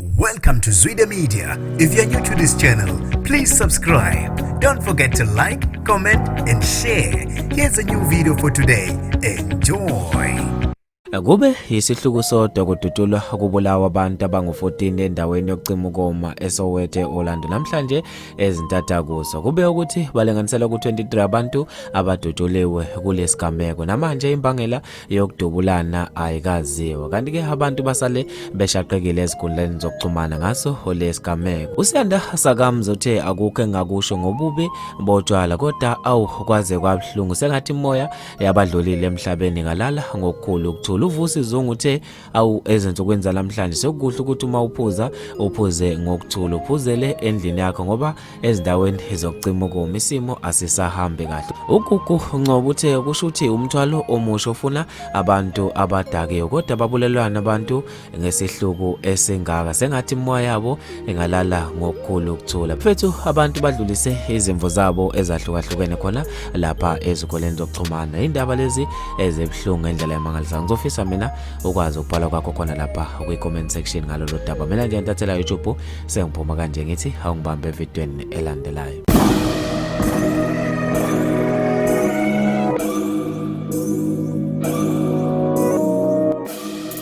Welcome to Zwide Media. If you're new to this channel, please subscribe. Don't forget to like, comment and share. Here's a new video for today. Enjoy. Kube yisihluku sodwa kudutshulwa kubulawa abantu abangu-14 endaweni yokucima ukoma eSoweto e-Orlando namhlanje ezintatha kuso. Kube ukuthi balinganisela ku-23 abantu abadutshuliwe kulesigameko. Namanje imbangela yokudubulana ayikaziwa kanti ke abantu basale beshaqekile ezinkundleni zokuxhumana ngaso lesigameko usiyanda sakamzi uthe akukho engakusho ngobubi botshwala kodwa awu kwaze kwabuhlungu sengathi imoya yabadlulile emhlabeni ngalala ngokukhulu ukuthula uvusi zungu uthe awu ezinsukwini zalamhlanje sekukuhle ukuthi uma uphuza uphuze ngokuthula uphuzele endlini yakho ngoba ezindaweni zokucima ukoma isimo asisahambi kahle ugugu uncoba uthe kusho ukuthi umthwalo omusha ofuna abantu abadakiwe kodwa babulelwana abantu ngesihluku esingaka sengathi imoya yabo engalala ngokukhulu ukuthula mfethu abantu badlulise izimvo zabo ezahlukahlukene khona lapha ezikoleni zokuxhumana indaba lezi ezibuhlungu ngendlela yamangalisayo ngizofisa mina ukwazi ukubhala kwakho khona lapha kwi-comment section ngalolo daba mina nje ntathela youtube sengiphuma kanje ngithi awungibambe evidweni elandelayo